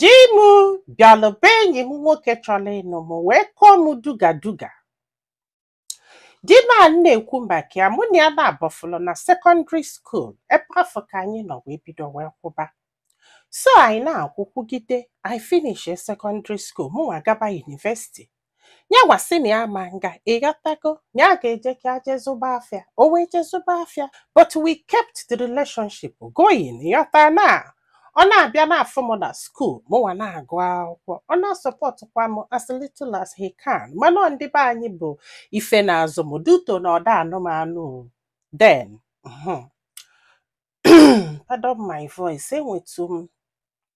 Di m bịalụ be enyi m nwoke chọrọ ịnụ m wee kụọ m duga duga. Di m a na-ekwu maka ya mụ na ya naabọ fụlụ na sekọndịrị skuul ebe afụ ka anyị nọ wee bido wee kwụba. So anyị na-akwụ kwụgide anyị finishie sekọndịrị skuul mụnwa gaba yunivesiti yanwa sị na ya ma nga ị ghọtago na ya ga-eje ka ya jee zụba afịa o wee jee zụba afịa but we kept the relationship going ị ghọta na ọ na-abịa na-afụ m na skuul mụnwa na-agụ akwụkwọ ọ na-asọpọtụkwa m as little as he can mana ọ ndị be anyị bụ ife na-azụ m due to na ọ da anụ m anụ then mhm. pardon my voice enwetu m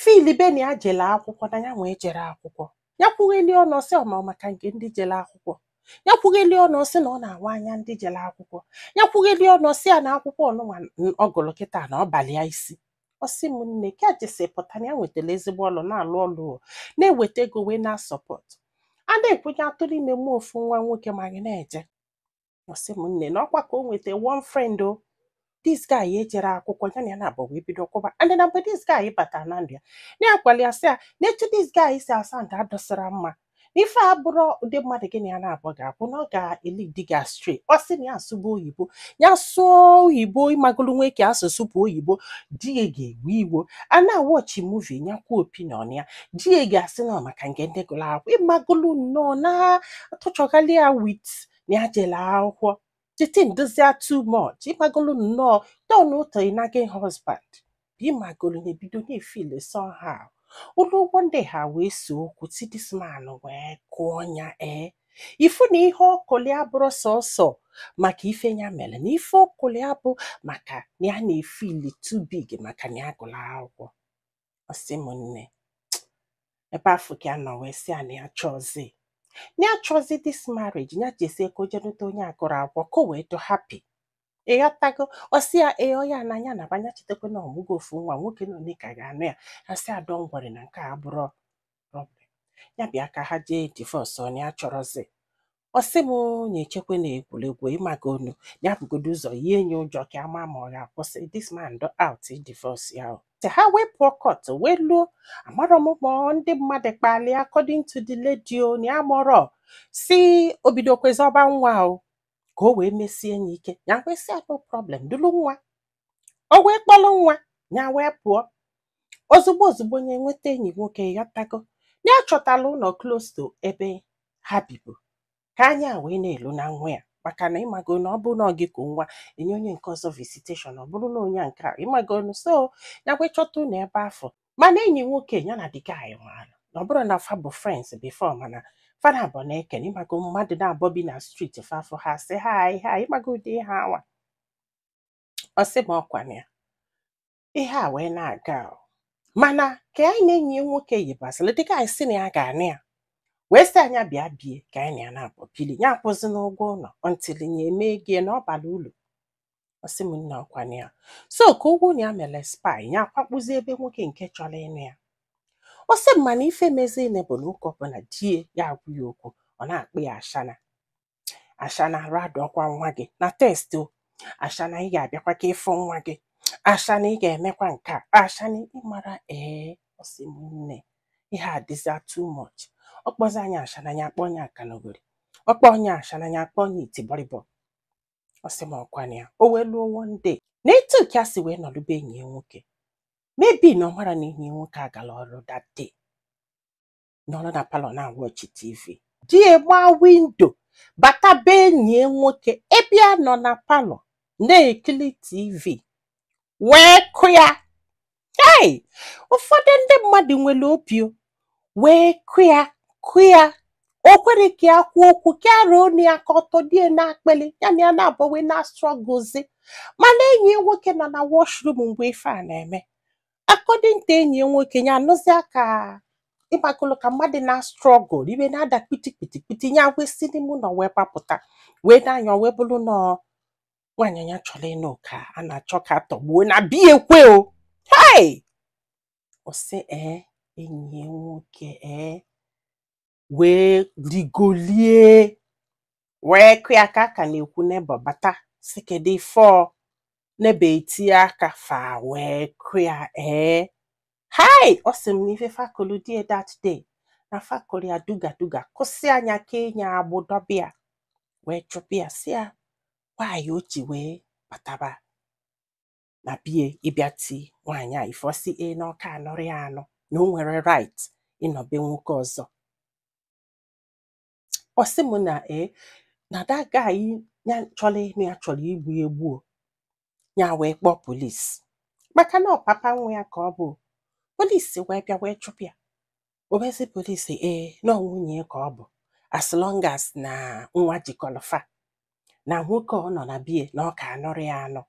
filibe na ya jelu akwụkwọ na yanwa ejerọ akwụkwọ ya kwugheli ọnụ ọ sị na ọ maka nke ndị jelu akwụkwọ ya kwugheli ọnụ ọ sị na ọ na-awa anya ndị jelu akwụkwọ ya kwugheli ọnụ ọ sị ya na akwụkwọ ọnụnwa ọ gụlụ kịta na ọ balị ya isi ọ sị m nne ka ya jesi pụta na ya nwetalụ ezigbo ọlụ na-alụ ọlụ o, na-eweta ego wee na-asọpọt a na-ekwu ya atụrụ ime mụọ ofu nwa nwoke ma anyị na-eje ọ sị m nne na ọkwa ka o nweta one friend o this guy ejerọ akwụkwọ ya na ya naabọ wee bido kwụba and na mgbe this guy batara na ndụ ya na-agwalị ya sị ya na etu this guy si asa ndụ adịsịrọ mma na ife a abụrọ ụdị mmadụ gị na ya naabọ ga-abụ na ọ ga-elidi gị astray ọ sị na ya asụba oyibo ya sụọ oyibo ịmagolu nwee ka asụsụ bụ oyibo di ya ga-ewe iwo a na-awọchi muvi ya kwuo opinion ya di ya ga-asị na ọ maka nke ndị gụrụ akwụkwọ ịmagolu nnọọ na-atọchọgharị ya with na ya jelu akwụkwọ cheating dụzịa too much ịmagolu nnọọ tọnụọ to a nagging husband ịmagolu ya ebido na-efil somehow o luo one day ha wee see okwu ti this man wee kụọ ya ee ị fụ na ihe ọ kụlị ya abụrọ sọsọ maka ife ya mere na ife ọ kụlị ya bụ maka na ya na-efili too big maka na ya gụrụ akwụkwọ ọ sị m nne ebe afụ ka ya nọ wee sị ya na ya chọzi na ya chọzi this marriage ya jezie ka o jee nụta onye agụrọ akwụkwọ ka o wee dị happy ị ghọtago ọ sị ya ee ọ ya na ya naba ya chetakwa na ọ mụgo ofu nwa nwoke na onye ka ga-anụ ya ya sị ya don't worry na nke a abụrọ problem ya bịa ka ha jee divọs o na ya achọrọzi ọ sị m ya echekwa na egwuregwu ịmagonu ya bugodu ụzọ yie ya ụjọ ka a ma ma ọ ga-akwụsị this man do out divorce ya o. te ha wee pụọ kọt wee luo amarọ m ma ọ ndị mmadụ kpali according to the lady o na ya amarọ sị o bidokwa zọba nwa o ka o wee mesie ya ike ya wee sị ya no problem dulu nwa o wee kpọrọ nwa ya wee pụọ ozugbo ozugbo ya enweta enyi nwoke ịghọtago ya chọtara ụlọ close to ebe ha bibu ka anya ya wee na-elu na nwa ya maka na ịmago na ọ bụrụ na ọ gị ka nwa enye onye nke ọzọ visitation ọ bụrụ na onye a nke a ịmago na so ya wee chọta ụlọ ebe afụ mana enyi nwoke ya na di ya ịmara na ọ bụrọ na fa bụ friends before mana fa na-abụọ na-ekene ịmago mmadụ naabọ bi na street fa fụ ha sị ha ha ịmago ụdị ihe anwa ọ sị m ọkwa na ya ihe a wee na-aga o. mana ka nya na enyi ya nwoke yibasịrị dịka nya sị na ya ga-anụ ya wee sị nya bịa be ya ka nya na ya naabọ bili ya akwụzina ụgwọ ụlọ until ya eme ego ya na ọ bara ulu ọ sị m nna ọkwa na ya so ka ụgwọ ụlọ ya mere expire ya akwakpụzi ebe nwoke nke chọrọ ịnụ ya ọ sị m mana ife mezinụ bụ na oge ọbụla di ya agwa ya okwu ọ na-akpọ ya ashana ashana arụ adọkwa nwa gị na text o ashana ị ga-abịakwa ka ị fụ nwa gị ashana ị ga-emekwa nke a ashana ị mara ee ọ sị m nne ihe a dịza too much ọ kpọzie nya ashana ya akpọọ nya akanogori ọ kpọọ nya ashana ya akpọọ nya itibọrịbọ ọ sị m ọkwa na ya o wee luo one day na etu nke a si wee nọdụ be enyi ya nwoke maybe na ọ mara na enyi ya nwoke agala ọrụ that day nọrọ na palọ na-awatch tv di ya gbaa window bata be enyi ya nwoke ebe ya nọ na palọ na-ekiri tv wee kụ ya hei ụfọdụ ndị mmadụ nwere obi o, wee kụ ya kụ ya o kwerọ ka ya kwuo okwu ka ya rọọ onu ya ka ọ tọdo ya n'akpịlị ya na ya naabọ wee na-strugglezi mana enyi ya nwoke nọ na washroom mgbe ife a na-eme according to enyi ya nwoke ya anụzịa ka ịmakwalụ ka mmadụ na-struggle ife na-ada kpiti kpiti kpiti ya wee si n'ime ụlọ wee gbapụta wee nee anya o wee bụrụ na nwaanyị ya chọrọ ịnụ ka a na-achọ ka a tọgbuo na be ya kwa o hei ọ sị ee enyi ya nwoke ee wee rigolu ya wee kụ ya ka a ka na-ekwu neighbour bata sị kedu ife ọ neighbour etinye aka fa wee kụ ya ee hai ọ sị m na ife fa kụlụ di ya that day na fa kụlụ ya duga duga kụsịa nya kenye ya agbụ dọbe ya wee chụpụ ya sị ya why o ji wee bataba na be ya ịbịa ti nwaanyị a ife ọ sị ya na ọ ka anụrọ ya anụ na o nwerọ right ịnọ be nwoke ọzọ ọ sị m na e na that guy ya chọrọ ịnụ ya chọrọ igbu ya egbu o. ya wee kpọọ polisi maka na ọ papa nwa ya ka ọ bụ polisi wee bịa wee chụpụ ya obezi polisi ee na nwunye ka ọ bụ as long as na nwa jikọlụ fa na nwoke ọ nọ na be ya na ọ ka anụrọ ya anụ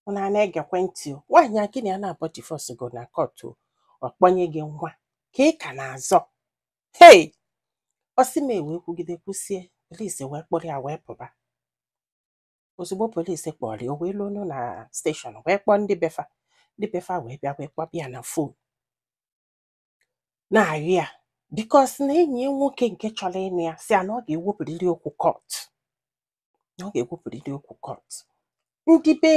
ụnụ a na-egekwa ntị o nwaanyị a gị na ya naabọ divorce go na court ọ kpọnye gị nwa ka ị ka na-azọ hei ọ sị m e wee kwugide kwusie polisi wee kpọrọ ya wee pụba ozugbo polisi kpọrọ ya o wee luo na station wee kpọọ ndị be fa ndị be fa wee bịa wee kpọba ya na phone na-ayọ ya biko sị na enyi ya nwoke nke chọrọ ịnụ ya sị ya na ọ ga-ewepụrịrị okwu court na ọ ga-ewepụrịrị okwu court ndị be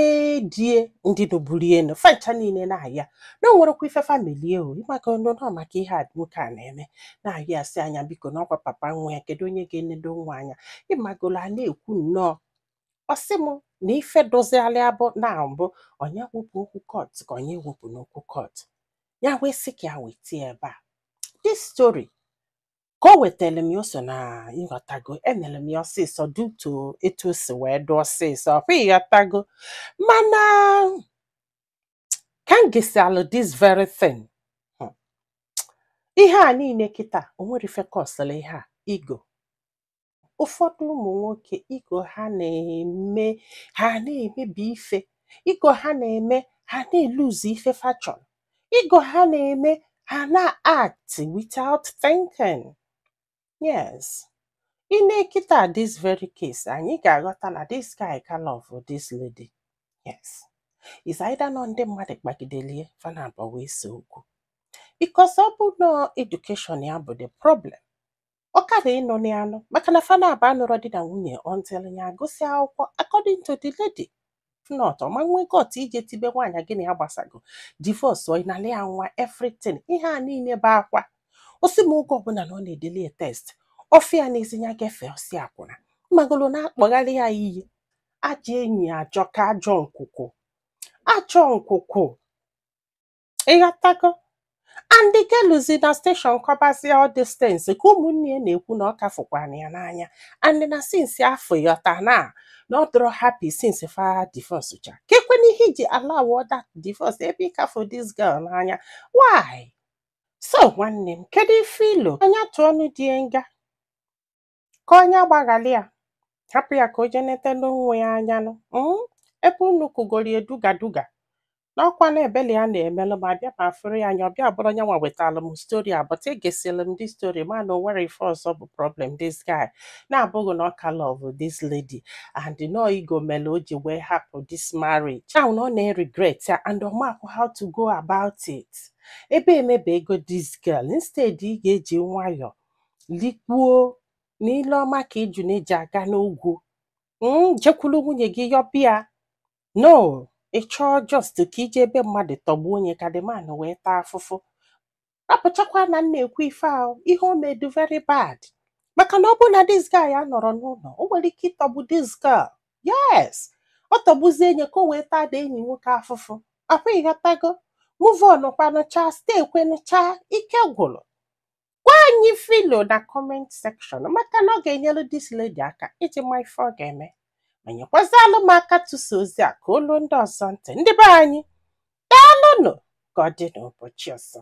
di ya ndị nụburu ya nụ fancha niile na-ayọ ya na o nwerekwa ife fa meli ya o ịmaka ọnụ na maka ihe a nwoke a na-eme na-ayọ ya sị na ya biko na ọkwa papa nwa ya kedu onye ga-enedo nwa anya ịmagolo a na-ekwu nnọọ ọ sị m na ife dozigharị abụ na mbụ onye wepụ okwu court ka onye wepụna okwu court ya wee sị ka ya weta ebe a this story ka o wetara m ya o so na ịghọtago enere m ya ọsịsọ due to etu o si wee dị ọsịsọ ọkwa ịghọtago mana ka m gesịalụ this very thing hmm, ihe a niile kịta o nwere ife kọsịrị ihe a ego ụfọdụ ụmụ nwoke ego ha na-eme ha na-emebi ife ego ha na-eme ha na-elose ife fa chọ ego ha na-eme ha na-act without thinking yes i nee kịta this very case anyị ga-aghọta na this guy ka love this lady yes is either na ọ ndị mmadụ kpagideli ya fa naabọ wee see okwu because ọ bụ na education ya bụ the problem ọ kara ịnụ ya anụ maka na fa naabọ anụrọ di na nwunye until ya agụsị akwụkwọ according to the lady not ọ ma nwee gut ije tibe nwaanyị gị na ya gbasago divorce ọ ịnala ya nwa everything ihe a niile bụ akwa ọ sị m oge ọbụla na ọ na-edeli ya text ọfịa na-ezi ya gefe ọ sị akwụna mmagolo na-akpọgharị ya iyi ajọ enyi ajọ ka ajọ nkwụkwụ ajọ nkwụkwụ ịghọtago and the girl luzi na station kọbazie all these things ka ụmụnne ya na-ekwu na ọ ka fụkwara ya n'anya and na since afọ ịghọta na na ọ dịrọ happy since fa divorce cha kekwanụ ihe i ji allow that divorce ebe ị ka fụ this girl n'anya why so nwanne m kedu ife i lo anya tụọ ọnụ di ya nga ka onye agbaghalị ya hapụ ya ka o jee nete nwunye ya anya nụ mm, ebe unu kụgoro ya duga duga n'ọkwa na ebele ya na-emelụ ma bịa ma fụrụ ya anya ọ bịa bụrụ onye nwa wetara m story a but egesịrị m this story ma na o nwere ife ọzọ bụ problem this guy na-abụghị na ọ ka love this lady and na ọ ego mere o ji wee hapụ this marriage ahụ na ọ na-regret ya and ọ makwa how to go about it ebe e megbuego this girl instead ị ga-eji nwayọọ likpuo na ile ọma ka ejune ji aga n'ogwu mm, jekwuru nwunye gị yọba ya no ị chọọ just ka ije ebe mmadụ tọgbuo onye ka the man wee taa afụfụ rapụchakwa na m na-ekwu ife ahụ ihe o mere dị very bad maka na ọ bụrụ na this guy a nọrọ n'ụlọ o nwere ike ịtọgbu this girl yes ọ tọgbuzie enye ka o wee taa da enyi nwoke afụfụ ọkwa ị ghọtago move on kwanụ cha stay kwanụ cha ike gwụrụ gwa anyị ife i lo na comment section maka na ọ ga-enyere this lady aka iji ma ife ọ ga-eme ma nyekwazialụ m aka tụsa ozi a ka o luo ndị ọzọ ntị ndị be anyị daalụnụ ka ọ dị n'ụbọchị ọzọ